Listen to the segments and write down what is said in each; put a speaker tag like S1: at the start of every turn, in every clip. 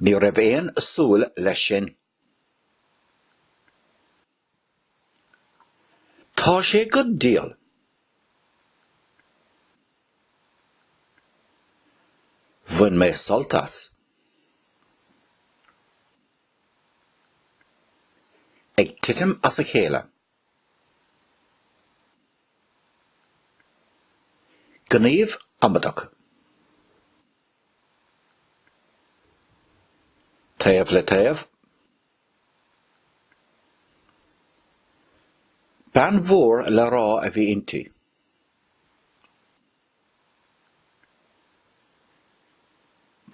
S1: Ní raibh aon súil leis sin. Tá sé go diail. Bhain mé sult as. Ag titim as a chéile. Gníomh iomadach. Taobh le taobh. Bean mhór le rá a bhí inti.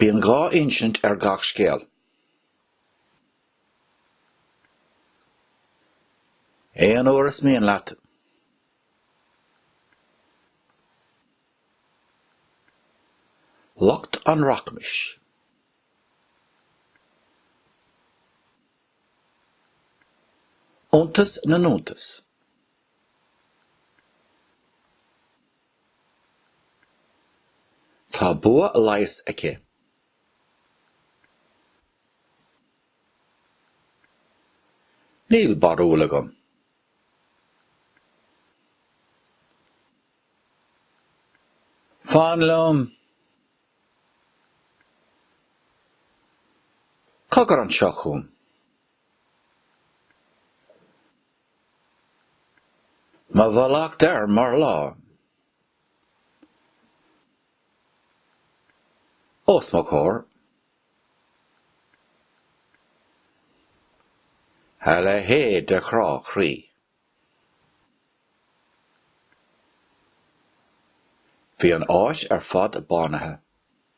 S1: Bíonn dhá insint ar gach scéal. Aon uair is mian leat, lucht an rachmais, iontas na n-iontas, Tá bua leighis aici. Níl barúil agam. Fan liom. Cogar anseo chugam. Mo mhallacht air mar lá. Os mo chomhair. A leithéid de chrá croí. Bhí an áit ar fad bánaithe.